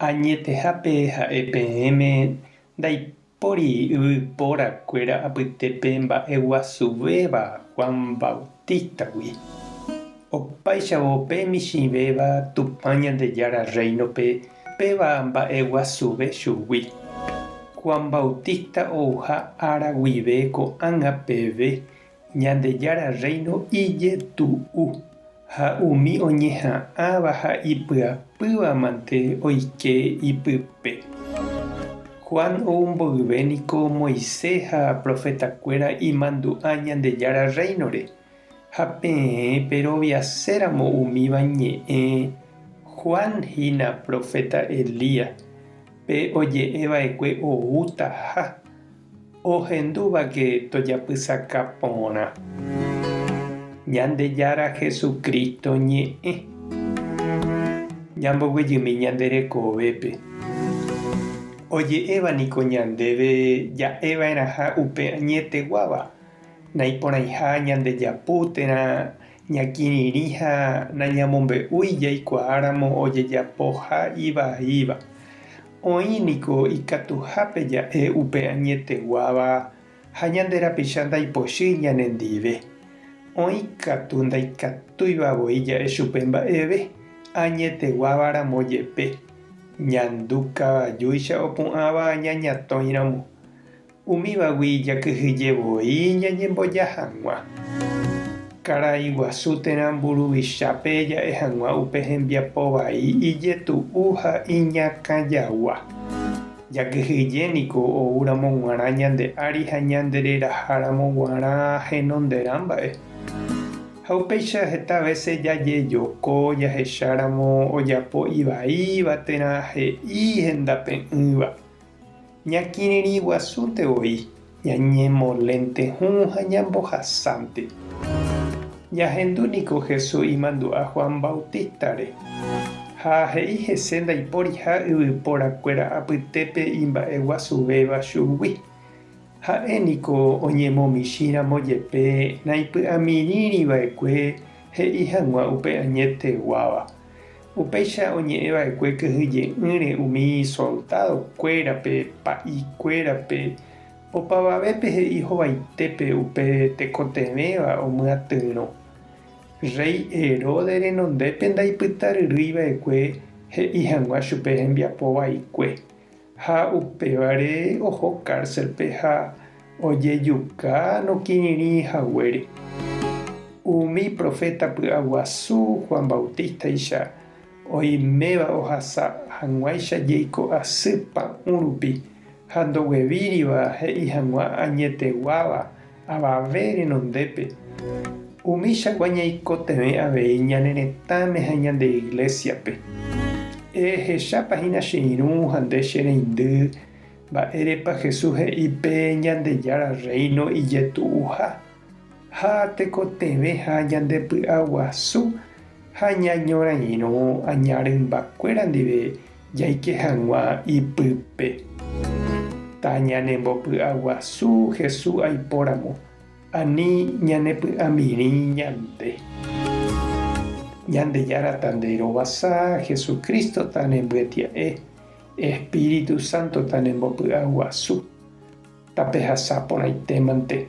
Añetehápe ha'e peẽme ndaipóri yvypóra kuéra apytépe mba'e guasuvéva Juan Bautista-gui. Opáichavo pe michĩvéva Tupã Ñandejára Rréinope péva mba'e guasuve chugui. Juan Bautista ouha ára guive ko'ág̃a peve Ñandejára Rréino ijetu'u ha umi oñeha'ãva ha ipyapýva mante oike ipype. Juan ou mboyve niko Moisés ha profetakuéra imandu'a Ñandejára Rréinore, ha peẽ peroviaséramo umíva ñe'ẽ, Juan hína proféta Elías, pe oje'eva'ekue oútaha Ohendúvake tojapysaka porã Ñandejára Jesucristo ñe'ẽ, ñamboguejymi ñande rekovépe. Oje'éva niko ñandéve ja'eva'erãha upe añeteguáva, naiporãiha ñandejapu térã ñakirirĩ ha nañamombe'úi jaikuaáramo ojejapoha ivaíva. Oĩ niko ikatuhápe ja'e upe añeteguáva ha ñande rapicha ndaipochýi ñanendive. Oĩ katu ndaikatúiva voi ja'e chupe mba'eve, añeteguáva ramo jepe. Ñandu kavajúicha opu'ãva aña ñatõiramo. Umívagui jakyhyje voi ñañemboja hag̃ua. Karai guasu térã mburuvichápe ja'e hag̃ua upe hembiapo vai ijetu'u ha iñakãjagua. Jakyhyje niko oúramo g̃uarã ñande ári ha ñandereraháramo g̃uarã henonderã mba'e. Ha upéicha heta vése jajejoko jahecháramo ojapo ivaíva térã he'i hendape'ỹva. Ñakirirĩguasúnte voi ñañemolénte hũ ha ñambohasánte. Jahendu niko Jesús imandu'a Juan Bautístare, ha he'i hese ndaiporiha yvyporakuéra apytépe imba'eguasuvéva chugui. Ha'e niko oñemomichĩramo jepe naipy'amirĩriva'ekue he'i hag̃ua upe añeteguáva. Upéicha oñe'ẽ va'ekue kyhyje'ỹre umi isoldádo kuérape, pa'i kuérape, opavavépe he'i hovaitépe upe tekotevẽva omyatyrõ. Rréi Heróde renondépe ndaipytaryrýi va'ekue he'i hag̃ua chupe hembiapo vaikue, Ha upévare oho cárcelpe ha ojejuka nokirirĩ haguére. Umi proféta py'aguasu Juan Bautístaicha oiméva ohasa hag̃uáicha jeiko asy pa'ũ rupi ha ndoguevíriva he'i hag̃ua añeteguáva Avave renondépe, umíchagua ñaikotevẽ avei ñane retãme ha ñande Iglésiape. Ehechápa hína che irũ ha nde che reindy, mba'érepa Jesús he'i pe Ñandejára Rréino ijetu'uha? Ha tekotevẽha ñandepy'aguasu ha ñañorairõ aña rymbakuéra ndive Jaike hag̃ua ipype. Tañanembopy'aguasu Hesu aipóramo, ani ñanepy'amirĩ ñande. Ñandejára tande rovasa, Hesu Crísto tanembyatya'e, Espíritu Santo tanembopy'aguasu. Tapehasa porãitémante,